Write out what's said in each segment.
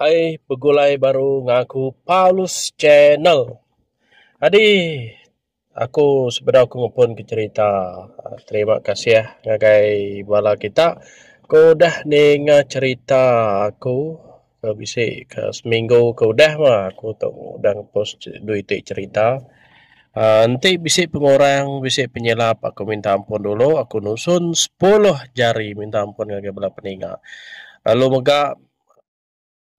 Hai begulai baru ngan aku Paulus channel. Adi aku sebedau ku ngupun ku cerita terima kasih ngagai bala kita ku udah ninga cerita aku ke bisi ke seminggu ke udah mah aku tu udah ngepost dui ti cerita. Enti bisi pengurang bisi penyelap aku minta ampun dulu aku nusun sepuluh jari minta ampun ngagai bala peninga lalu mega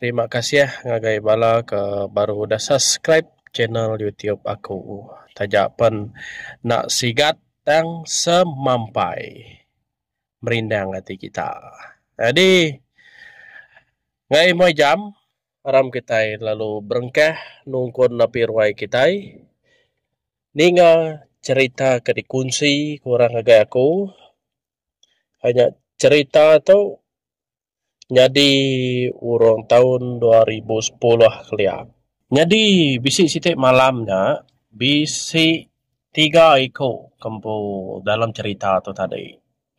terima kasih ngagai bala ke baru udah subscribe channel YouTube aku taja pen enda sigat tang semampai merindang ati kita nyadi ngai moh jam. Aram kitai lalu berengkah nungkun napi ruai kitai. Ninga cherita ke dikunsi ku orang ngagai aku anyap cherita tu nyadi urung taun dua ribu sepuluh kelia. Nyadi bisi siti malam nya bisi tiga iku ke empu dalam cherita tu tadi.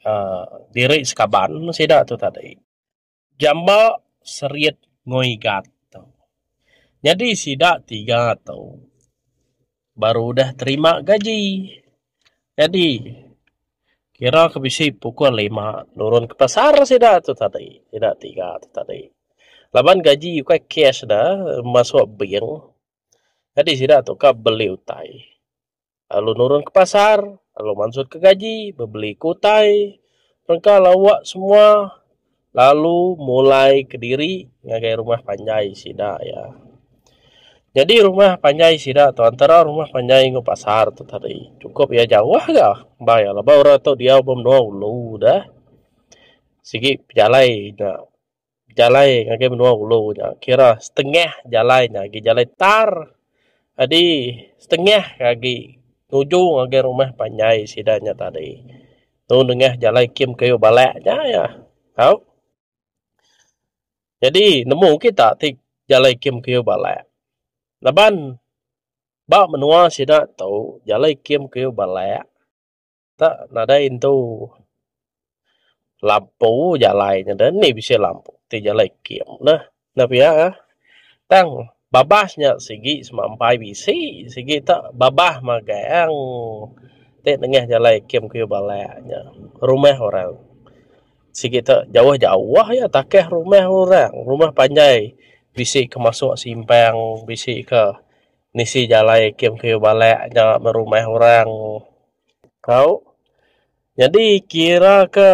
Aaa diri sekaban meh sida tu tadi. Jamba serit ngoi gat tu. Nyadi sida tiga tu baru udah terima gaji. Nyadi kira ke bisi pukul lima nurun ke pasar sida tu tadi. Sida tiga tu tadi. Laban gaji ukai cash dah masuk bank. Nyadi sida tu ka beli utai. lalu nurun ke pasar lalu mansut ke gaji bebeli ke utai rengka lawa semua lalu mulai kediri ngagai rumah panjai sida iya. Nyadi rumah panjai sida tu antara rumah panjai enggau pasar tu tadi sukup iya jauh ga ba iya laban orang tu diau ba menua ulu deh sigi pejalai nya. jalai ngagai menua ulu nya kira setengah jalai nya agi jalai tar jadi setengah agi nuju ngagai rumah panjai sida nya tadi tu nengah jalai kem keyuh bala nya iya tau jadi nemu kita ti jalai kem keyuh bala laban ba menua sida tu jalai kem keyuh bala Dak nadai intu lampu jalai nyen deh nih bisi lampu ti jalai kem neh ina pia eh tang babas nya sigi sema empai bisi sigi te babas magang ti nengah jalai kem keyuh bala nya rumah orang sigi te jauh jauh iya takah rumah orang rumah panjai bisi ke masuk simpang bisi ke nisi jalai kem keyuh bala nya me rumah orang. Tau nyadi kira ke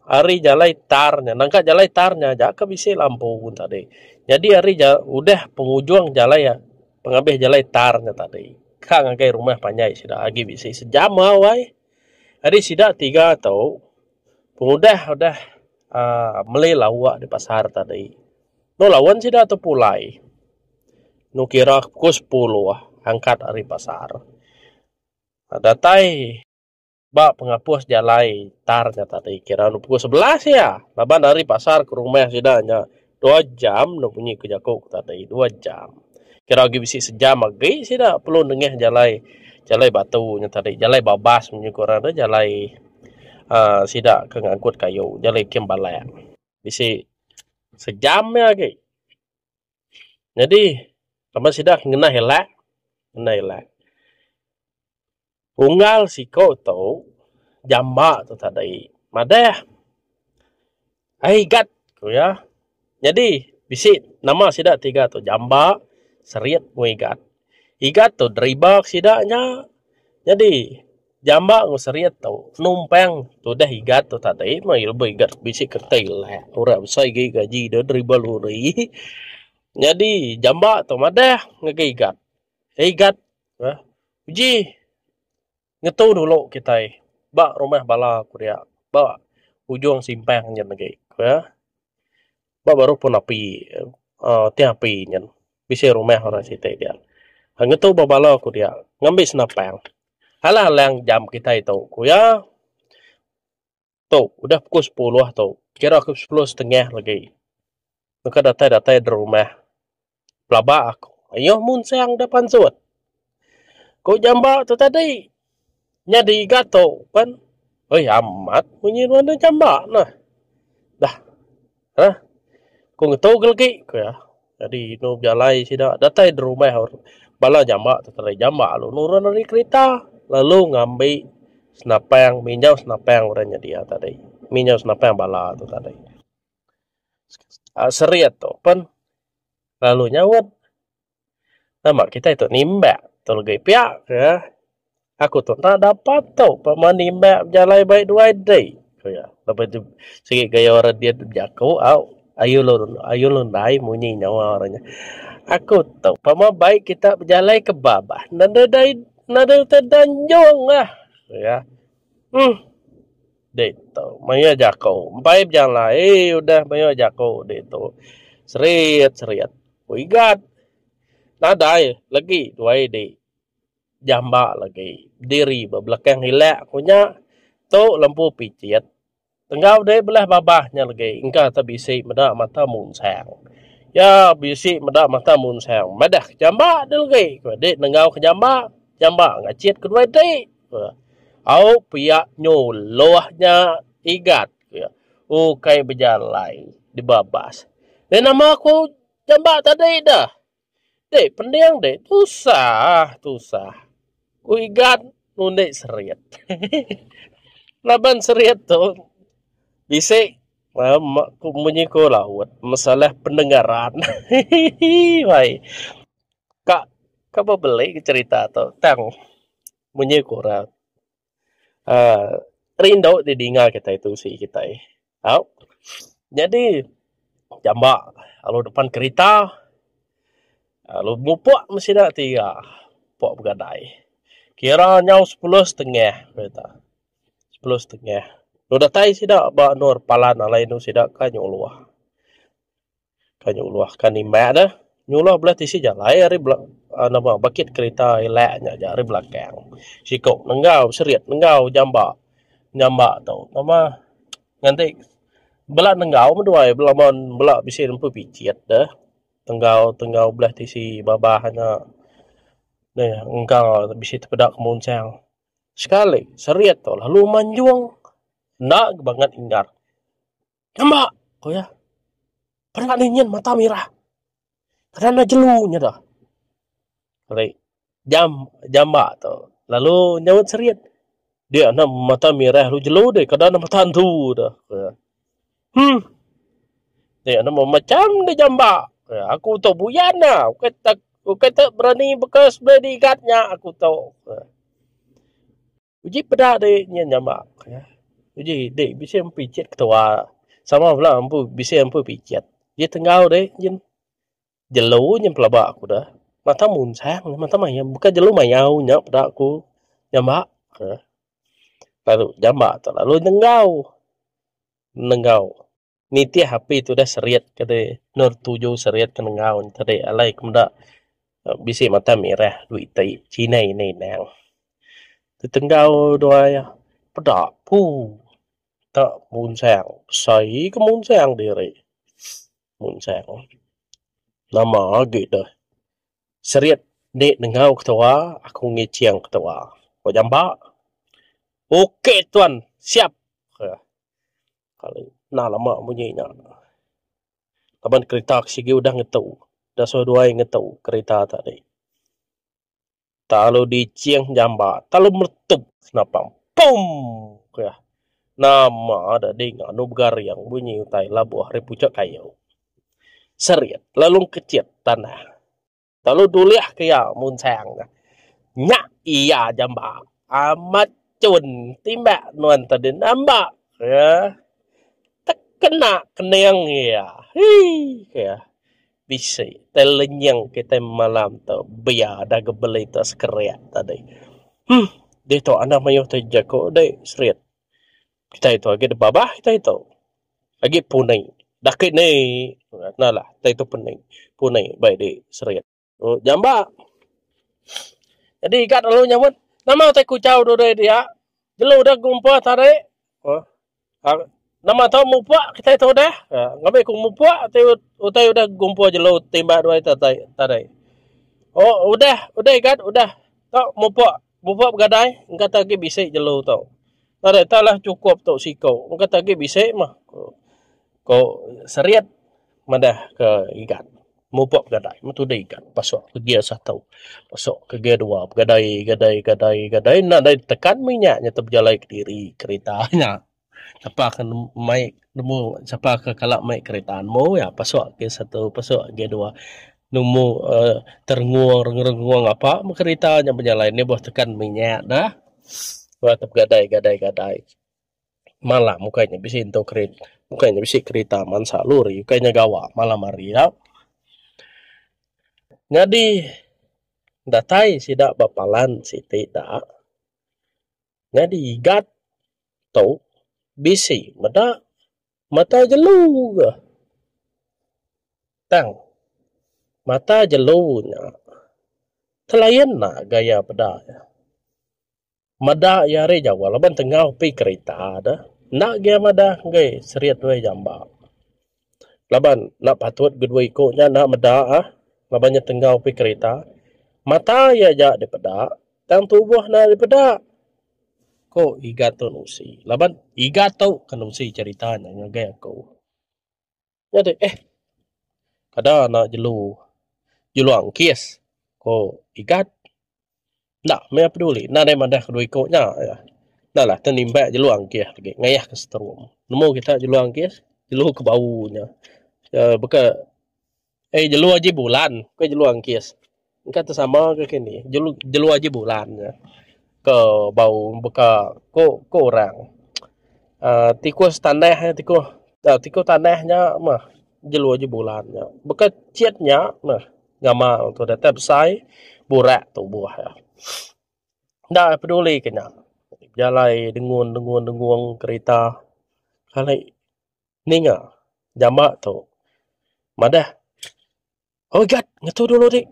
ari jalai tar nya nangka jalai tar nya aja ke bisi lampu gun tadi nyadi ari jalai udah pengujung jalai pengabih jalai tar nya tadi ka ngagai rumah panjai sida agi bisi sejam au ai ari sida tiga tu pengudah udah um meli lawa di pasar tadi tu lawen sida tu pulai nu kira pukul sepuluh angkat ari pasar. Datai ba pengapus jalai tar nya tadi kira anu pukul sebelas iya laban ari pasar ke rumah sida nya dua jam enda bunyi ku jaku ku tadi dua jam kira agi bisi sejam agi sida perlu nengah jalai jalai batu nya tadi jalai babas nya ku orang nya jalai uhh sida ke ngangkut kayu jalai kem balak bisi sejam iya agi. Nyadi laban sida ke ngenah ila, ngenah ila. Unggal siko tu jamba tu tadi madah ai gat ku iya. Nyadi bisi nama sida tiga tu jamba, serit enggau igat. Igat tu driba sida nya. Nyadi. Jamba enggau Seriet tu numpang tudah igat tu tadi meh iya lebih igat bisi kereta ilah ora besai agi gaji iya driver lori nyadi jamba tu madah ngagai igat ai igat eh uji ngetu dulu kitai ba rumah bala ku dia ba ujung simpang nyin agi eh. Ba baruh pun api uhh teh api nyen bisi rumah orang siti diak ngetu ba bala ku diak ngambi senapang alah alang jam kitai tu ku iya tu udah pukul sepuluh tu kira ku sepuluh setengah lagi baka datai datai rumah. Pelaba aku mayuh munsang da pansut. Ku jamba tu tadi. Nyadi ga tu pen. Uih amat munyi nuan da jamba neh. Dah. Hah. Ku ngetu ga legi ku iya. Nyadi inu bejalai sida datai da rumah bala jamba tu tadi. Jamba lalu nurun ari kerita lalu ngambi senapang, minjau senapang orang nyadi iya tadi. Minjau senapang bala tu tadi. Serit tu pen lalu nyaut nama kitai tu nimbak tu legi piak ke aku tu enda dapat tu pemain nimbak bejalai baik duai dei ku iya lepai tu sigi gaya orang diit bejaku au ayu lu ayu lu ndai munyi nyawa orang nya aku tu pama bai kita bejalai ke ba bah nadai nadai utai da nyunglah ku iya um. ditu mayuh jaku empai bejalai eii udah mayuh jaku ditu serit serit ku igat nadai lagi duai di jamba lagi diri ba belakang ilek ku nya tu lempu picit enggau deh belah babah nya lagi engka te bisi meda mata munsang ya bisi meda mata munsang madah ke jamba deh lagi ku dik nenggau ke jamba jamba ngacit ke duai ti Au pia nyu loh nya igat ukai bejalai deba bas. Deh nama ku jamba tadi deh. Deh pening deh tusah tusah ku igat ngundi serit hehehe laban serit tu bisi munyi ku laut masalah pendengaran hehehe bai. ka ka bebeli ke cerita tu tang munyi ku orang um rindu di dinga kitai tusi kitai au nyadi jamba lalu depan kerita lalu mupok me sida tiga pok begadai kira nyau sepuluh setengah pia tu sepuluh setengah lu datai sida ba endur palan alai endur sida ka nyuluh. Kai nyuluh ka nimbak ne nyuluh bala tisi jalai ari bala nobo bukit kerita ila nya aja ari belakang siko nenggau serit nenggau jamba nyamba tu pema nganti bala nenggau meduai bala mon bala bisi empu picit de tenggau tenggau belah tisi babah nya meh engka bisi tepeda kemunsang sekali serit tu lalu manjung enda banget ingat. Nyamba! ku iya. Peda anu nyin mata mirah. Kada enda jelu nya tu. Ari jam jamba tu lalu nyaut serit. Dia enda mata mirah lalu jelu deh. Kada enda mata entu tu. Huh. Dia enda meh macham deh jamba. Aku tu buyan nya. Ukai tak ukai tak berani beka sebedau igat nya aku tu. Uji peda diri nyin nyama uji dik bisi empu ichet ketua sama bala empu bisi empu pichet ji tenggau dik nyin jelu nyin pelaba ku deh mata munsang mata mayau bukan jelu mayau nya peda ku nyama lalu nyama tu lalu nenggau nenggau. nitih api tudah serit ke dei nur tuju serit ke nengau te dei alai ke meda bisi mata merah duit ti chinai ina inang tenggau dua ia peda puu ta munsang besai ke munsang diri munsang nama agi deh serit di nengau ketua aku ngicing ketua ko jamba ok tuan siap Nah lama bunyi nya laban kereta ke sigi udah ngetu udah suwa dua hari ngetu kereta tadi telalu diching jambat telalu meletup senapang pum kah nama tadi nganu begaring bunyi utai labuh ari puchok kayu serit lalu kechet tanah. Lalu nulih ke iya munsang neh. Nya iya jamba. Amat cun timbak nuan tadi namba ke tekena kening iya. Hii ke bisi tai lenying kitai malam tu bia dah gebeli tu sekerik tadi. Huh ditu anang mayuh tu jaku deh Serit. Kitai tu agi deba bah kitai tu. Agi punai. Daki ni kena lah kitai tu punai. Punai bai di Serit. Oh jamba. Jadi igat lalu nyebut nama utai kuchau dudai dia. Jelu deh gumpa tarik. Oh. Nama tau mupuk kitai tu deh. Ngambi ku mupuk utai udah gumpa jelu timbah duai tarik. Oh udah udah igat udah. Tau mupuk. Bupa begadai, engkata agi bisi jelu tu. Nadai tau lah chukup tu siku, engkata agi bisi mah, ku ku Seriet madah ke Igan. Mupa begadai metu deh Igan pasu ke gear satu, pasu ke gear dua begadai gadai gadai gadai nadai tekan mih nya, nya tu bejalai kediri kerita nya. Sapa ke mai nemu sapa ke kala mai kereta nemu iya pasuk ke satu pasuk ke dua nemu uhh terengung rengung apa meh kereta nya bejalai nya beh tekan minyak dah beh te begadai gadai gadai malam ukai nya bisi entu kereta ukai nya bisi kereta mansa lori ukai nya gawa malam hari nya. Nyadi datai sida ba palan siti da. nyadi igat tu bisi meda mata jelu ga tang mata jelu nya telayan ga iya peda meda iya ari jawa laban tengah upi kerita enda ga iya madah agei serit wei jamba. laban enda patut ke dua iku nya enda meda ah laban nya tenggau pih kerita. Mata iya aja dipeda tang tubuh enda dipeda, ku Iga Tun Usi laban Iga tu ke nusi cherita nya ngagai aku. Jadi eh kada ena jelu jelu angkis, ku Igat. Enda meh iya peduli enda deh madah kedua iku nya iya. Enda lah tang nimba jelu anggih agi ngayah ka setrum. Nemu kita jelu anggih jelu ke bau nya uhh baka ai jelu aji bulan ka jelu anggih. Engka te sama ka kini jelu jelu aji bulan nya ka bau baka ko ko orang uhh tikus tanah tikuh tikuh tanah nya meh jelu aji bulan nya baka chet nya meh. Ngamal tu datai besai burak tubuh iya. Enda peduli ke nya bejalai dengun dengun dengung kerita kali ninga jama tu madah oi gad ngetu dulu dik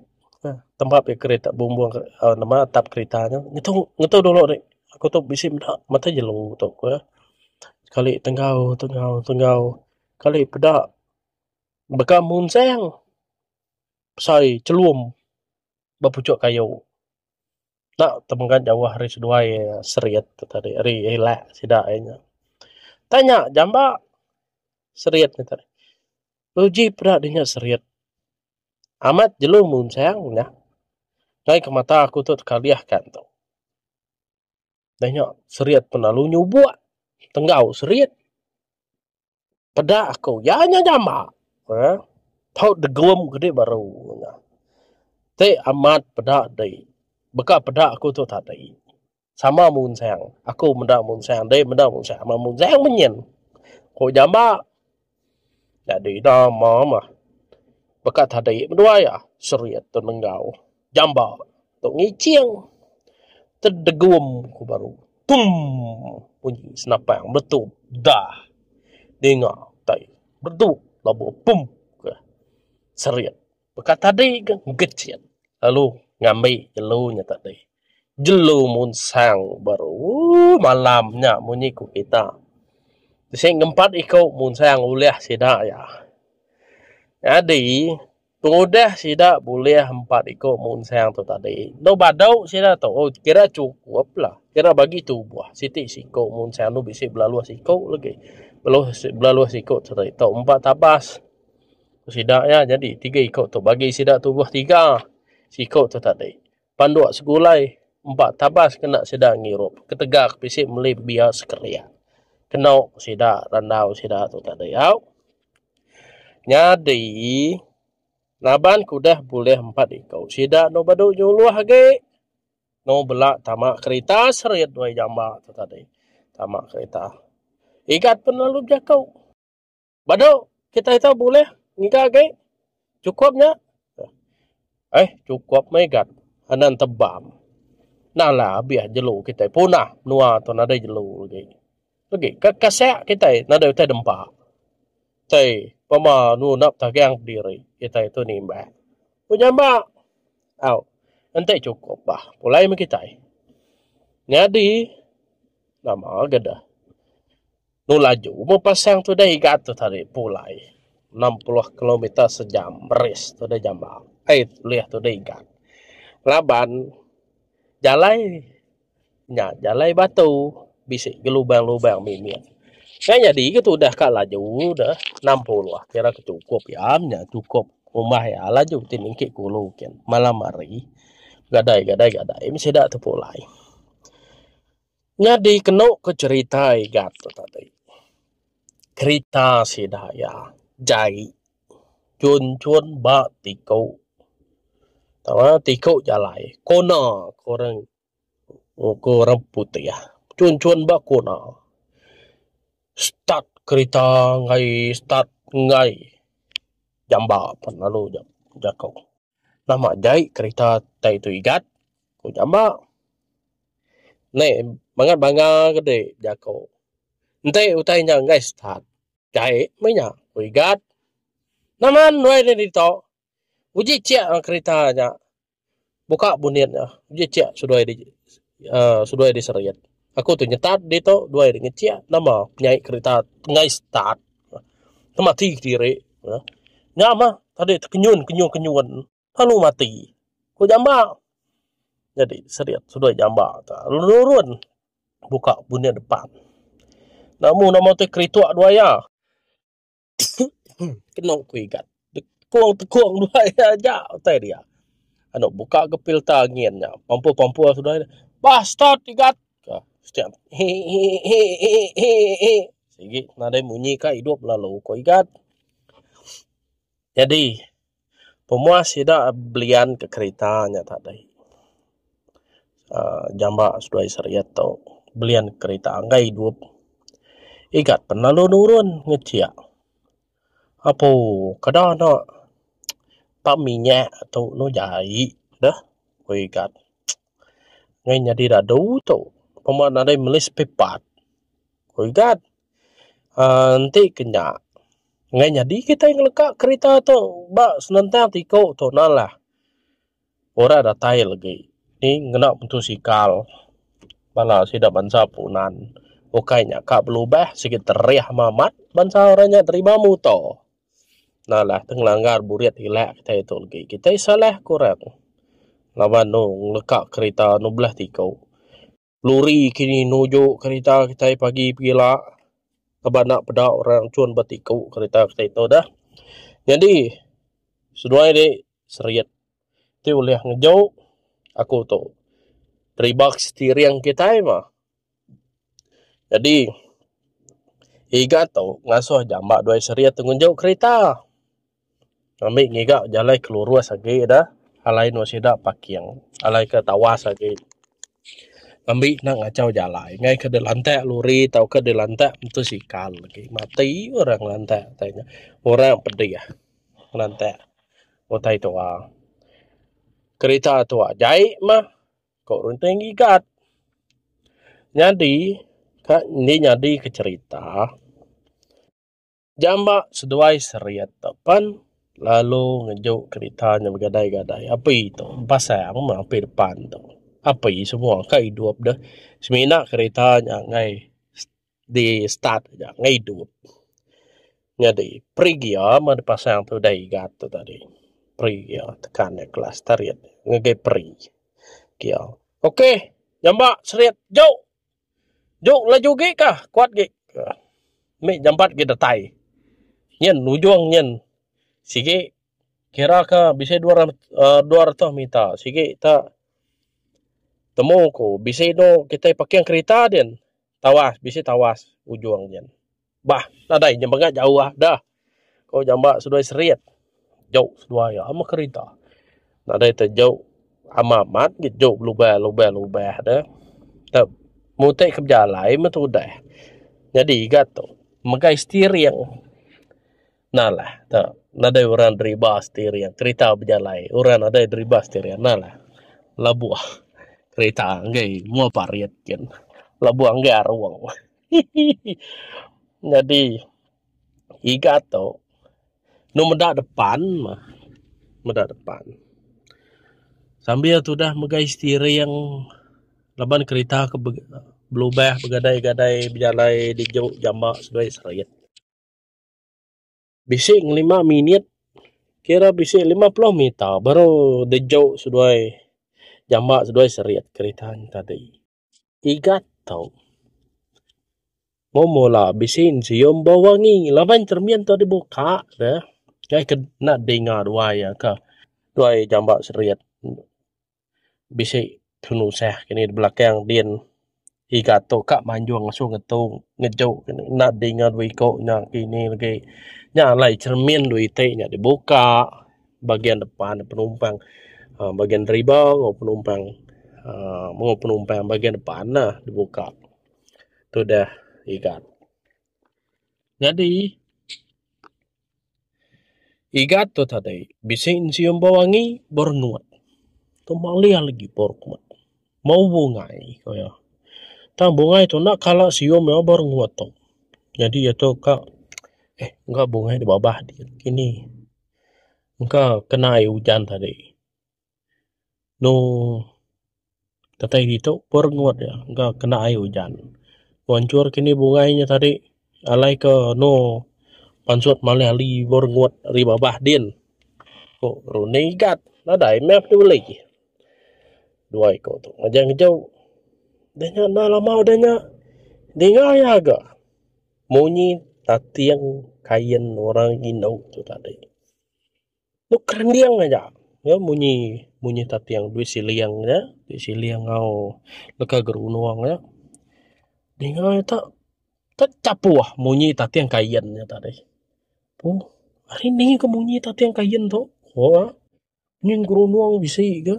tempat mih kerita bumbung nama atap kerita nya ngetu ngetu dulu dik aku tu bisi meda matai jelu tu ku iya kali tenggau tenggau tenggau kali peda Baka munsang besai chelum ba puchok kayu enda temegan jauh ari seduai serit tadi ari lak sida ai nya. Tang nya jamba serit nya tadi uji peda dinya serit amat jelu munsang nya kai ke mata aku tu tekalih kan tu. Dah nya serit pun lalu nyubok tenggau serit. Peda aku, iya nya nyama. Uhh. Tau degum kudi baru nya. Ti amat peda dei. Baka peda aku tu tadi. Sama munsang. Aku meda munsang dei meda munsang. Sama munsang meh nyin. Ku nyama. Nyadi nama meh. Baka tadi meh duai ah. Serit tu nenggau. Jamba tu ngicing tedegum ku baru. Tum bunyi senapang meletup. Dah. Ninga tai bedu labu pum ke serit. Baka tadi ke ngecit lalu ngambi jelu nya tadi. Jelu munsang ku baru. Ooh malam nya munyi ku kita. Bisi ngempat iku munsang ulih sida iya. Nyadi. Pengudah sida bulih empat iku munsang tu tadi, endo badu sida tu kira chukuplah. Kira bagi tubuh siti siku munsang endo bisi belaluh siku lagi. Belaluh siku tadi tu empat tabas sida iya nyadi tiga iku tu bagi sida tubuh tiga siku tu tadi. Panduk segulai empa tabas kena sida ngirup ketegak bisi meli pebia sekeria ke nauk sida randau sida tu tadi au. Nyadi laban ke udah bulih empat iku sida enda badu nyuluh agi enda bela tama kerita serit dua jamba tu tadi. Tama kerita igat pun lalu bejaku. Badu kitai ito bulih ngiga agi cukup nya eh cukup megat anan tebam nala abih jelu kitai punah menua ito nadai jelu agi agi ka kasek kitai nadai utai dempa tai pama ngundah pedagang pendiri kitai ito nimbah ku nyamba au enti cukup bah pulai meh kitai nyadi nama ga deh. Lu laju meh pasang tu deh iga tu tadi pulai enam puluh kilometer sejam beris tu deh jamba ai leh tu deh iga laban jalai nya jalai batu bisi gelubang-lubang mimit ngai nyadi ga tudah ka laju deh enam puluh kira ke chukup iya nya chukup umbah iya laju ti mingke kulu kin malam hari gadai-gadai meh sida tu pulai. Nyadi kenu ku cerita Igat tu tadi kerita sida iya jai chun chun ba tiku tau tiku jalai kona ku orang ku orang putih chun chun ba kona start kerita ngai start ngai jamba pan lalu jaku. Nama jai kerita tai tu igat? ku jamba. Neh bangat bangga ke deh jaku. Enti utai nya enggai start jai meh nya ku igat. Naman wai deh ditu. Uji chek kerita nya buka bunit nya uji chek seduai Aaa seduai deh seriet. Aku tu nyetat ditu duai deh ngechek nama nyai kereta enggai start ke mati kediri meh nya meh tadi tekenyun kenyun kenyun lalu mati ku jamba jadi seriet seduai jamba tu nurun buka buneh depan. Nama nama tu keritok duai iya. Kenu ku igat tekung tekung dua iya aja utai dia. Anu buka ke filter angin nya pampur pampur sudah nya. Bah start igat. Ka setiap hi hi hi hi hi hi. Sigi nadai munyi ka idup lalu ku igat. Jadi Pemuah sida belian ke kerita nya tadi uhh jamba seduai seriet tu belian kerita enggai idup igat pan lalu nurun ngechek apu keda enda ba minyak tu eno jai deh ku igat nyadi dadu tu pemua nadai meli spare part ku igat. uhh enti ke nya ngai nyadi kitai ngeleka kerita tu ba senentang ti ku tu na lah ora datai legi ti ngena mutosikal bala sida bansa punan ukai nya ka belubah sigi terih meh amat bansa orang nya deriba muto na lah ti ngelanggar burit ila kitai tu legi kitai salah kurang laban lu ngeleka kerita nubeleh ti ku. Luri kini nuju kerita kitai pagi pegila laban enda peda orang cun ba ti ku kerita kitai tu deh. Nyadi seduai ri serit ti ulih ngejo aku tu deriba ke setiring kitai mah. Nyadi iga tu ngasuh jamba duai serit tu ngejo kerita. ngambi ngiga jalai ke lurus agi da alai enda sida parking alai ke tawas agi ngambi enda ngachau jalai ngai ke dilantak lori tauka dilantak motosikal agi mati orang ngelantak tai nya orang pedih ngelantak utai tuwa kerita tuwa jai mah ko runting ngiga nyadi ka indi nyadi ke cherita. Jamba seduai seriet tu pen lalu ngejuk kerita nya begadai-gadai api tu pasang meh api depan tu api semua ka idup deh semina kerita nya ngai di start aja ngai idup nyadi brake gear meh dipasang tu udah igat tu tadi brake gear tekan iya kelas seriet ngagai brake gear ok jamba seriet jauh. Ju laju gi ka kuat gi mih nyambat gi datai nyin ujung nyin sigi kira ka bisi dua ratus dua ratus meter sigi ta temu ku bisi inu kitai parking kerita din tawas bisi tawas ujung nyin. Bah nadai inya mega jauh dah ko jamba seduai serit jauh seduai ama kerita nadai te jauh amat amat gei jauh belubah lubah lubah de tau mutai ke bejalai meh tudah nyadi ga tu megai steering nalah te nadai orang deriba steering kerita bejalai orang nadai deriba steering nalah labuh kerita angai mua parit gin labuh angai arung. Hehehe nyadi iga tu enu meda depan mah meda depan sambil tudah mega steering laban kerita ke belubah begadai-gadai bejalai diju jamba seduai serit bisi ngelima minit kira bisi lima puluh meter baru diju seduai jamba seduai serit kerita nya tadi. tiga tau mung mula bisi ne sium bau wangi laban cermin tu dibuka ne kai ke enda dinga duai iya ka duai jamba serit bisi penusah kini da belakang din tiga tu ka manjung asu ngetung ngejuk enda dinga dua iko nya kini lagi nya alai cermin dua iti nya dibuka. bagian depan penumpang uhh bagian deriba enggau penumpang uhh mung penumpang bagian depan ne dibuka tu deh iga. Nyadi iga tu tadi bisi nyium bau angi baru nuan tu meh ulih lagi baru kuman bau bungai ku iya tang bungai tu enda kala sium iya baru nguat tu nyadi iya tu ka eh bungai ti babah agi kini. engka ke nai ujan tadi nu datai ditu pun regut ja engka ke nai ujan. Mansur kini bungai nya tadi alai ke nu pansut malih ali buk regut ari babah din ku runding igat nadai meh ti beli dua iku tu ngejau ngejau da nya enda lama udah nya dinga iya ga. Munyi tating kain orang indu tu tadi. Tu kerending aja nyau munyi munyi tating duit siling nya, duit siling enggau leka gerunung nya. Dinga ita tek chapoh munyi tating kain nya tadi. Tu ari ni ke munyi tating kain tu? Hoo ngin gerunung bisi ke.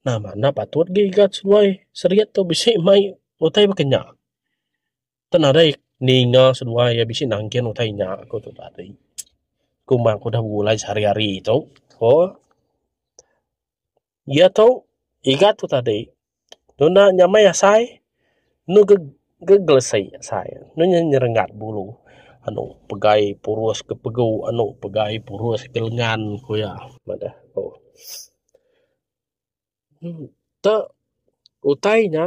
Nama enda patut gi ga seduai Serian tu bisi mai utai baka nya. Enda nadai ninga seduai iya bisi nangkin utai inya aku tu tadi. Aku meh aku udah begulai sehari-hari tu hoo. Iya tu igat tu tadi dok enda nyamai asai enu geg gegelesi asai enu nya nyerengat bulu anu pegai purus ke pegu anu pegai purus ke lengan ku iya meh deh hoo. Tok utai nya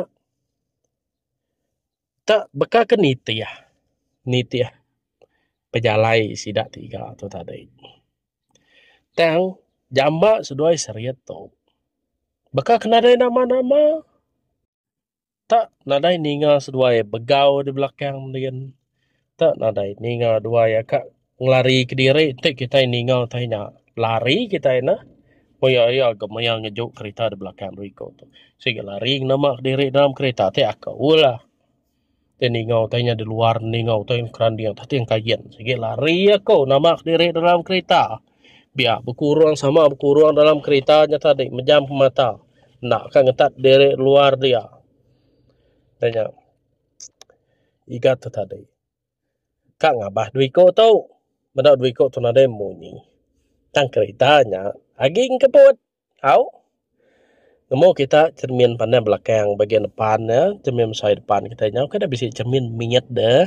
tok baka ke nitih nitih pejalai sida tiga tu tadi tang jamba seduai seriet tu baka ke nadai nama-nama. tak nadai ninga seduai begau di belakang din, tak nadai ninga duai a kak ngelari kediri nti kitai ninga tai nya lari kitai neh paya iya gemaya ngeju kerita di belakang dua iku tu. Sik lari ngena ma kediri dalam kerita ti akou lah. Ti ningau tai nya di luar ningau tai keranding atas ti engkayin sigi lari aku nama kediri dalam kerita biak bekurung sama bekurung dalam kerita nya tadi mejam pemata enda ka ngetat diri luar dia da nya iga tu tadi ka ngabah dua iku tu meda dua iku tu nadai munyi tang kerita nya agi engkebut. Au. Nemu kita cermin pandai belakang bagian depan ne, cermin besai depan kita nyau ke deh bisi cermin mit deh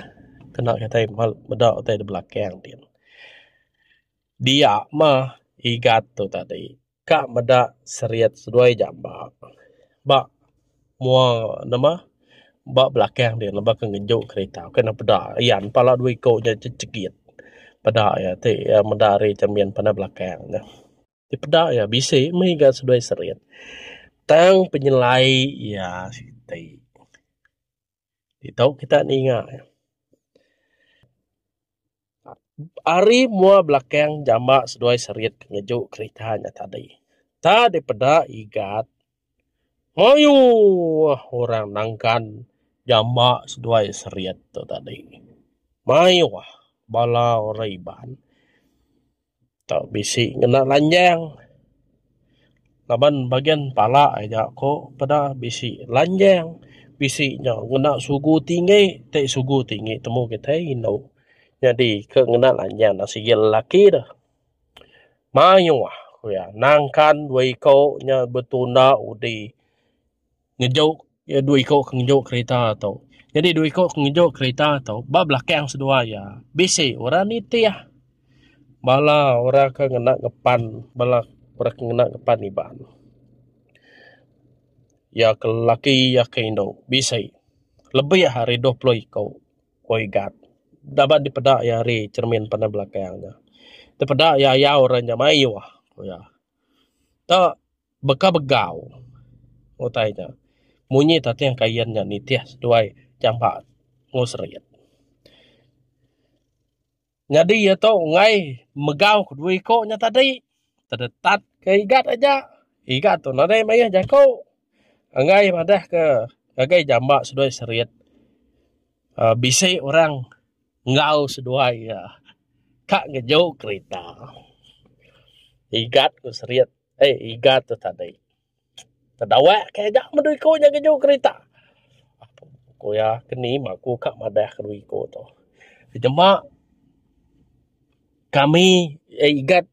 kena kitai meda utai da belakang din. Dia mah igat tu tadi ka meda seriet seduai jamba ba mua nama ba belakang din laban ke ngeju kerita ke nang peda iya ne pala dua iku nya chegit. Peda iya ti meda ari cermin pandai belakang ne. ti peda iya bisi mih ga seduai serut tang penyelai iya siti ditu kita ninga iya. Ari mua belakang jama seduai serut ngeju kerita nya tadi ta dipeda igat Mayuh orang nangkan jama seduai Seriet tu tadi. Mayuh bala orang Iban tu bisi ngena lanjang laban bagian pala aja ku peda bisi lanjang bisi nya ngena sugu tinggi ti sugu tinggi temu kitai indu. Nyadi ke ngena lanjang sigi lelaki deh. Mayuh ku iya, nangkan dua iko nya betunda udi ngejuk iya dua iko ke ngejuk kerita tu. Nyadi dua iko ke ngejuk kerita tu ba belakang seduai iya bisi orang nitih. Bala orang ke ngena ngepan bala orang ke ngena ngepan Iban. Iya ke lelaki iya ke indu bisi lebih ari dua puluh iko. ku Igat laban dipeda iya ari cermin pandai belakang nya. Dipeda iya ayau ra nya mayuh ku iya. Tu baka begau utai nya. Munyi tatih kain nya nitih seduai jamba enggau serit. Nyadi iya tu enggai megau ke dua iko nya tadi tedetat ke igat aja igat tu nadai mayuh jaku enggai madah ke ngagai jamba seduai serit aaa bisi orang enggau seduai iya ka ngeju kerita igat ku serit ai igat tu tadi. Tedawak kai aja meh dua iko nya keju kerita. Ku iya keni mah ku ka madah ke dua iko tu. Nyema kami eh igat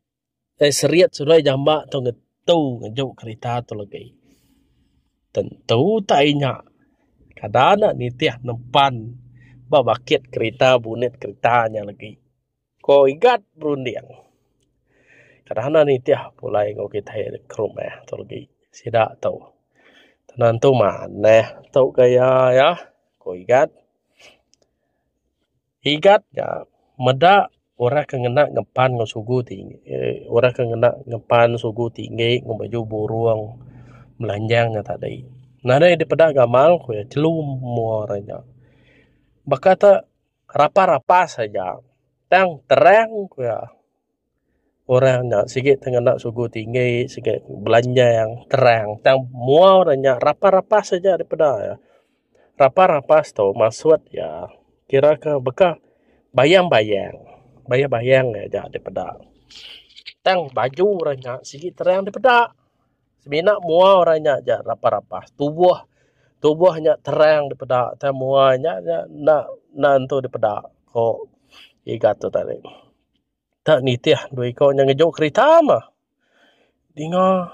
eh seriet sulai jamba tu ngetu ngeju kerita tu legi. Tentu tai nya kada ne nitih nempan ba bakit kerita bunit kerita nya legi. Ko Igat berunding. Kadang ne nitih pulai enggau kitai ri ke rumah tu legi sida tu. Tenantu manah tu gaya iya, ko Igat. Igat nya meda orang ke ngena ngempan enggau sugu ti emm orang ke ngena ngempan sugu tinggi enggau baju burung melanjang nya tadi. Nadai dipeda gamal ku iya telu mua orang nya. Baka te. Rapas-rapas aja tang terang ku iya. Orang nya sigi ti ngena sugu tinggi sigi belanjang terang tang mua ora nya rapas-rapas aja dah peda iya. Rapas-rapas tu maksud iya kira ke baka bayang-bayang, bayang-bayang aja dipeda. Tang baju orang nya sigi terang dipeda. Semina mua orang nya ja rapah-rapah tubuh tubuh nya terang dipeda tang mua nya nya enda enda nentu dipeda ko Iga tu tadi. Te nitih dua iko nya ngejo kerita mah dinga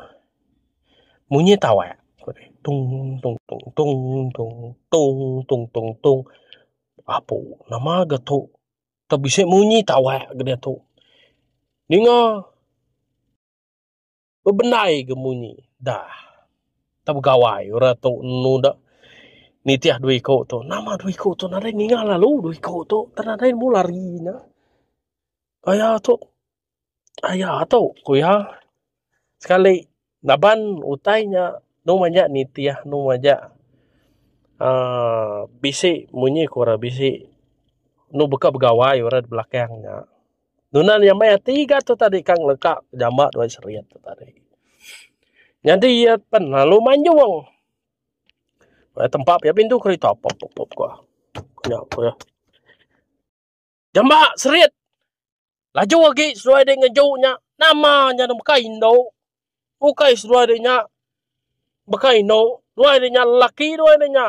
munyi tawak tung tung tung tung tung tung tung tung tung apu nama ga tu te bisi munyi tawak ga diatu dinga Bebendai ga munyi da tau begawai orang tu enu da nitih dua iko tu nama dua iko tu nadai ninga lalu dua iko tu tan nadai nemu lari nya aya tu aya tu ku iya sekali laban utai nya dong majak nitih dong majak aaa bisi munyi ku orang bisi enu baka begawai orang da belakang nya. Nunan iya meh tiga tu tadi ka ngeleka jama dua serit tu tadi. Nyadi iya pen lalu manjung. Wah tempa pia pintu kereta pop pop pop ko. Nya ko ya. Jama serit. Laju agi seduai dek ngeju nya. Nama nya nang bukai indu. Bukai seduai dek nya. Bukai indu. Duai dek nya lelaki duai dek nya.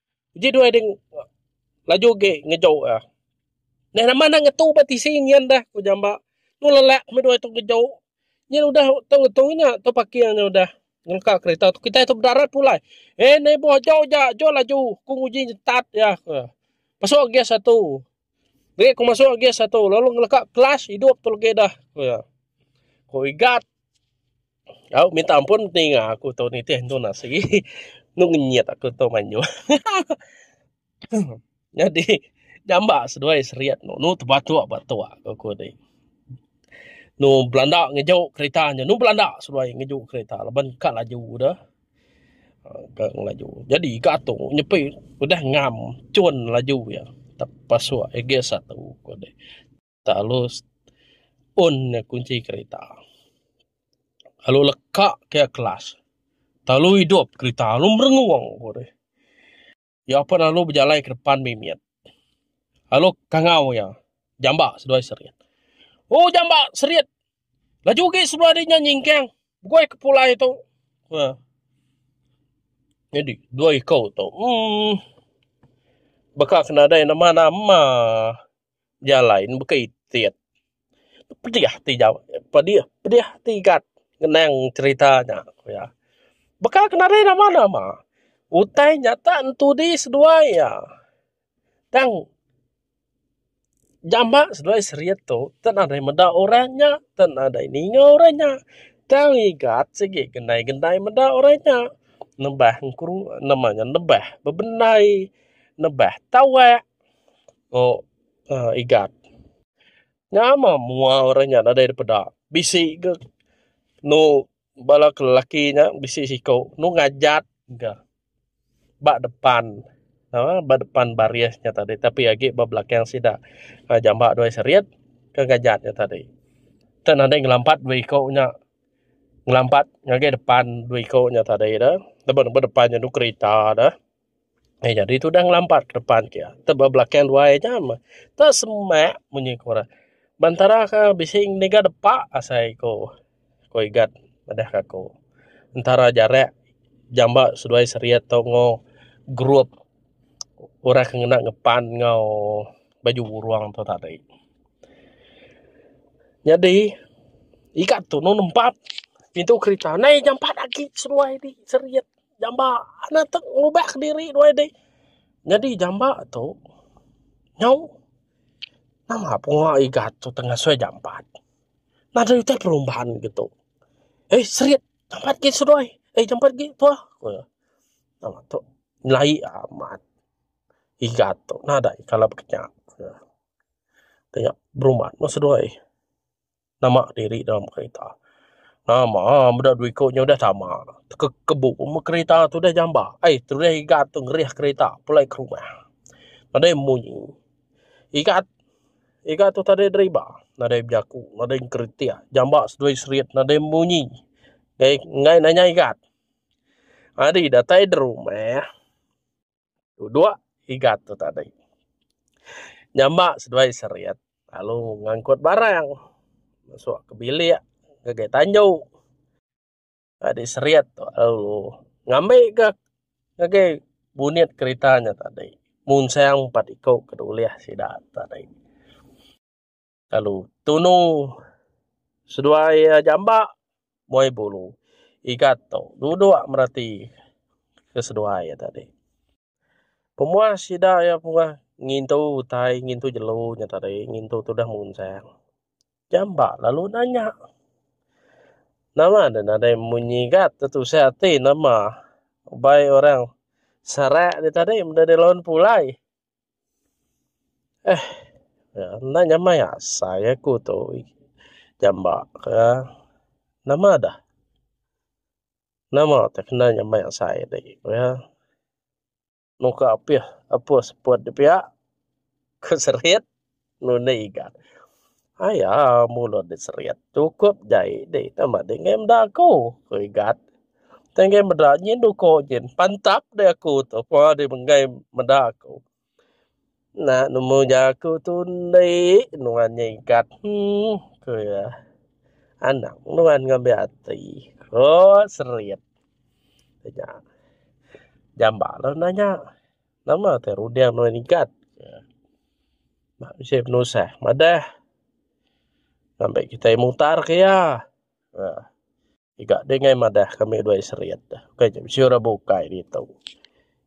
Uji dua ding laju agi ngejo iya. Neh nama enda ngetu ba tisi nyin dah ku jamba. Tu lelak meh dua tu ngejo. Nyin udah tu ngetu nya tu parking nya udah ngelengka kereta tu kitai tu bedarat pulai. Eh neighbour aja uja aja laju ku nguji nyentat iya ku iya. Pasu agi satu. Deh ku masuk lagi satu lalu ngeleka kelas hidup tu lagi dah. Ku ya. Ku igat. Au minta ampun tinga aku tu nitih tu nasi. Nu ngenyit aku tu manyu. Jadi jamba seduai seriet nu nu tebatuk batuk aku ku di. Nu belanda ngejo kereta nya nu belanda seduai ngejo kereta laban ka laju dah. Ga ngelaju. Jadi ga tu nyepi udah ngam cun laju iya tap pasuk iya gear satu ko deh talus un iya kunci kerita lalu leka ke iya kelas lalu idup kerita lalu merengung ko deh. Iya pun lalu bejalai ke depan mimit. Lalu kangau iya. Jamba seduai serit. Oh jamba serit. Laju ugi sebelah dia nyingkang. Begoi ke pulai tu. Ha. Jadi dua ikau tu. Hmm. Baka kena ada nama-nama. jalai ne baka itit pedih ati jau pedih pedih ati gat ngenang cerita nya ku iya baka ke nadai nama nama utai nyata entudi seduai iya tang jamba seduai seriet tu tang nadai meda orang nya tang nadai ninga orang nya tang igat sigi gendai gendai meda orang nya nebah engku nama nya nebah bebendai nebah tawak. Mok uhh igat. Nyama mua orang nya nadai dipeda. Bisi ga enu bala ke lelaki nya bisi siko enu ngajat ga ba depan uhh ba depan baris nya tadi tapi agi ba belakang sida uhh jamba dua serit ke ngajat nya tadi. Tek nadai ngelampat dua iko nya ngelampat ngagai depan dua iko nya tadi deh. Laban ba depan nya enu kerita deh. Ai nyadi tudah ngelampat depan ke iya. Tau ba belakang luai aja meh. Tau semak bunyi ku orang. Bentara ke bisi niga depa asai ku ku Igat madah ke aku. Entara jarak jamba seduai serit tau ngo group orang ke ngena ngepan ngau baju burung tu tadi. Nyadi Igat tu nemu nempat pintu kerita nai jampat agi seduai di serit. Jamba anak tu ngubah ke diri dua ide. Nyadi jamba tu nyau nama punga igat tu tengah sui jampat. Nada utai perumbahan gitu. Eh serit jampat gi sedoi. Eh jampat gi tua. Kuya. Nama tu nyelai amat igat tu nada kala bekenya. Kuya. Tengah berumbat mah sedoi. Nama diri dalam kereta. Nama meda dua iku nya udah tama. Tekebu meh kereta tu udah jamba. Ai terulih Igat tu ngerih kereta pulai ke rumah. Nadai munyi. Igat Igat tu tadai driver. Nadai bejaku. Nadai ngkritik. Jamba seduai serit. Nadai munyi. Enggai nanya Igat. Ari datai da rumah. Duduk igat tu tadi. Nyama seduai serit lalu ngangkut barang masuk ke bilik ngagai tanju. Tadi serit tu lalu ngambika ngagai bunit kerita nya tadi. Munsang empat iku ke dulih sida tadi. Lalu tunu seduai iya jambak muai bulu igat tu duduk mereti ke seduai iya tadi. Pemuah sida iya pengah ngintu utai ngintu jelu nya tadi ngintu tudah munsang. Jambak lalu nanya nama deh nadai munyi igat tu tusah ati nama ubai orang serak nya tadi meda deh laun pulai. Ehh enda nyamai asai aku tu jamba ka nama dah nama tu kena nyamai asai dak aku ya muka apih apus put dipiak ku serit. Nuni ga. Aya mulut dep seriet sukup jai di sama dei ngai meda aku, ku Igat. Tei ngai meda nyin uko nyin pantap dei aku tu pua dei ngai meda aku. Enda nemu uja aku tu ndi nuan nya Igat heh ku iya. Anang nuan ngambi ati, ku seriet nya. Jambaklah nanya. Nama te runding nuan igat ke nak bisi penusah madah ngabai kitai mutar ke iya aaa iga dingai madah kami dua serit ukai ja bisi orang bukai ditu.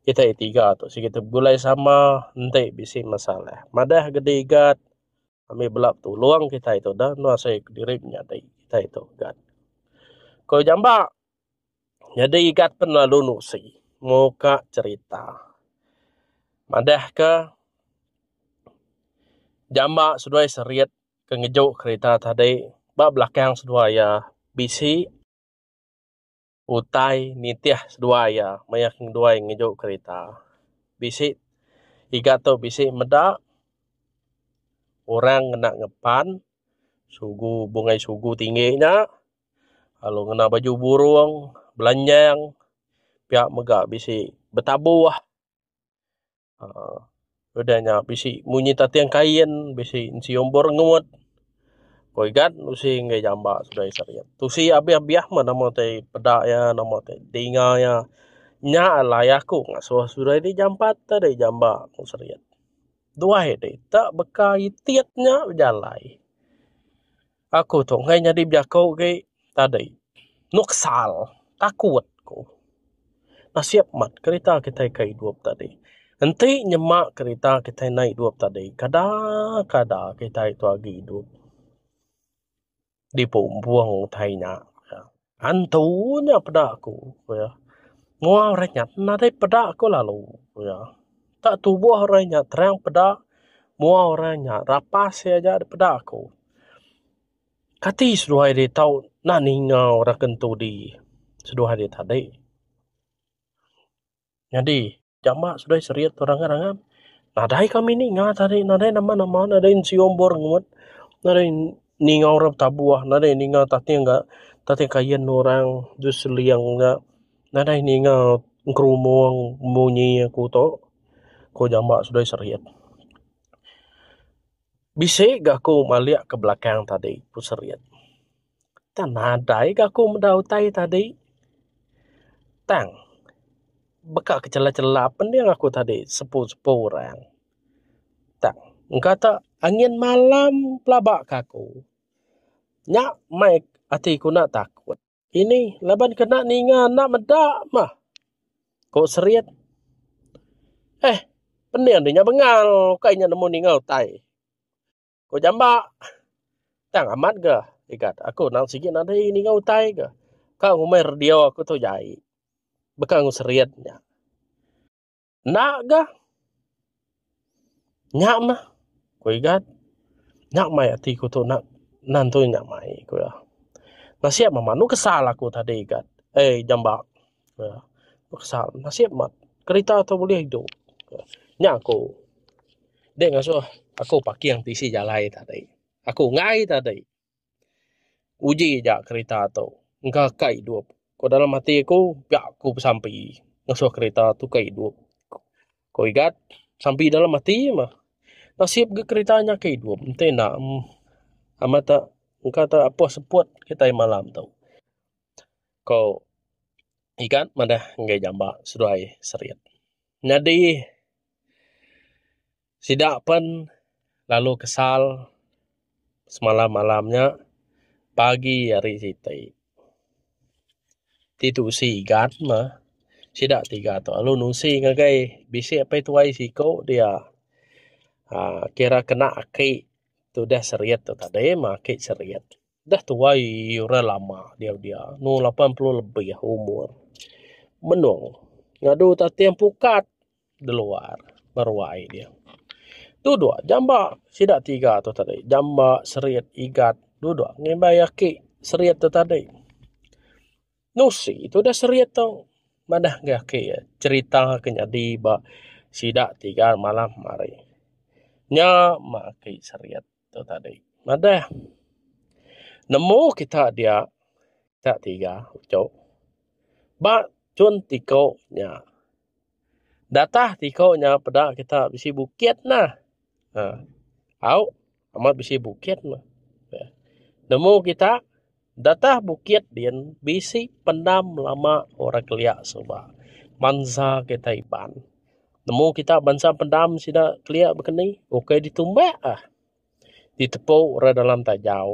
Kitai tiga tu siget tu begulai sama enti bisi masalah madah ke digat ami bela betulung kitai tu da nuan sek diri menyadi kitai tu igat ko jamba. Nyadi igat pen lalu nusi muka cerita. Madah ke jamba seduai serit ke ngejo kerita tadi ba belakang seduai iya bisi utai nitih seduai iya maya seduai ngejo kerita. Bisi igat tu bisi meda orang ngena ngepan sugu bungai sugu tinggi nya. lalu ngena baju burung belanjang pia mega bisi betabuh um udah nya bisi munyi tating kain bisi nyium burngut poi ga usi enggai jamba seduai seriet tusi abih abih meh nama tai peda ia nama tai dinga ia nya alai aku ngasuh seduai ti jampat tadi jamba mung seriet duai dei tak beka itit nya bejalai. Aku tu enggai nyadi bejaku agi tadi. Nuksal. Takut ku. Nasib mat kerita kitai ke idup tadi. Enti nyema kerita kitai enda idup tadi, kada kada kitai tu agi idup. Dipu empung utai nya. Antu nya peda aku ku iya. Mua orang nyat nadai peda ko lalu ku iya. Tak tuboh orang nyat terang peda mua orang nyat rapas iya aja da peda ko. Kati seduai ri tau nak ninga orang ke ntu di seduai ri tadi. Nyadi. jama sida serit tu rangan rangan nadai kami ninga tadi nadai nama nama nadai ensio embor ngut nadai ninga orang betabuh nadai ninga tating ga tating kayen orang du seling ga nadai ninga gerumong munyi ku tu ku jama sida serit. Bisi ga ku malik ke belakang tadi ku serit. Tang nadai ga aku meda utai tadi tang baka ke chela chela pening aku tadi sepu sepu orang tang engka te angin malam pelaba ke aku nya mai ati ku na takut ini laban kena ninga enda meda mah ko seriyet eh pening nya bengal ukai nya nemu ninga utai. Ko jamba. Tang amat ga ikat aku nang sigi nadai ninga utai ga. Ka ngumbai radio aku tu jai. Baka ngu seriet nya. Enda ga. Nya mah ko igat. Nya mai ati ku tu nak nantui nya mai ku iya. Nasia mama nu kesal aku tadi igat. Ei jamba. uhh peksa nasib mat kerita tu bulih idu uhh nya ku deh ngasuh aku parking tisi jalai tadi aku ngai tadi uji ja kerita tu engka ka idup ku dalam ati ku ga ku besampi ngasuh kerita tu ka idup ku igat sampi dalam ati mah nasib ga kerita nya ka idup enti enda amat te engka te apoh seput kitai malam tu. ko ikan madah enggai jamba seduai serit nyadi sida pen lalu kesal semalam malam nya pagi hari siti ti tusi ikan mah sida tiga tu lalu nusi ngagai bisi apai tuai siko dia um kira kena aki tudah serit tadi mah aki serit. Dah tuai orang lama diau dia, numur lapan puluh lebih umur. Menung ngadu tating pukat di luar ba ruai dia. Tu dua jamba sida tiga tu tadi. Jamba, Serit, Igat tu dua ngimbai aki Serit tu tadi. Nusi tu udah Serit tu madah ngagai aki iya cherita ke nyadi ba sida tiga malam hari. Nya mah aki Serit. tu tadi. Madah nemu kita dia kita tiga uchu ba chun tiko nya. Datah tiko nya peda kita bisi bukit nah. Au amat bisi bukit nemu kita. Datai bukit din bisi pendam lama orang kelia suba bansa kita Iban. Nemu kita bansa pendam sida kelia bekeni ukai ditumbak ah ditepu orang dalam tajau.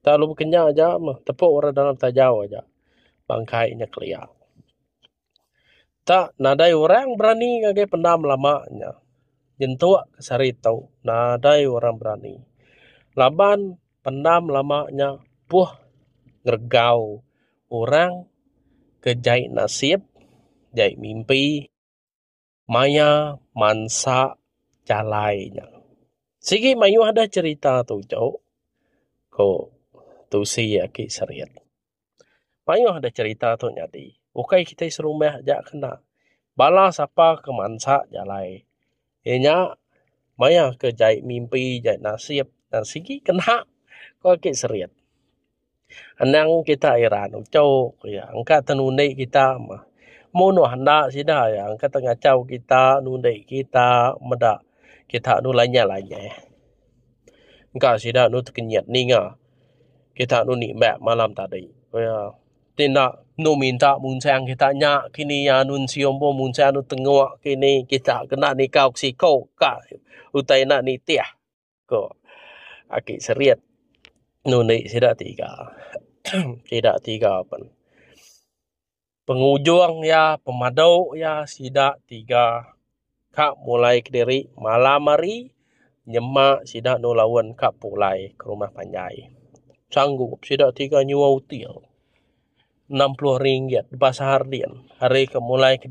Kita lalu Kenyah aja meh tepu orang dalam tajau aja bangkai nya kelia. tak nadai orang berani ngagai pendam lama nya nyentuk sehari ito nadai orang berani laban pendam lama nya puh ngeregau orang ke jai nasib jai mimpi. maya mansa jalai nya. Sigi mayuh deh cherita tu jok ko tusi aki Serith. Mayuh deh cherita tu nyadi. Ukai kitai serumah aja kena. Bala sapa ke mansa jalai e nya maya ke jai mimpi jai nasib sigi kena ko aki Serith. Anang kita ira nuchok iya engka te nundi kita mah. Mun meh enda sida iya engka te ngachau kita nundi kita meda kita enu lanyah-lanyah. Engka sida enu tekenyit ninga kita enu nimbak malam tadi. Ku iya ti enda enu minta munsang kita nya kini iya enu sium pun munsang enu tengok kini kita kena nikau ke siko ka utai enda nitih. ko aki serit nundi sida tiga sida tiga pen pengujung ia pemado ia sida tiga ka mulai kediri malam hari nyema sida endur laun ka pulai ke rumah panjai sanggup sida tiga nyuwa util enam pulo ringgit ba seharian hari ke mulai kediri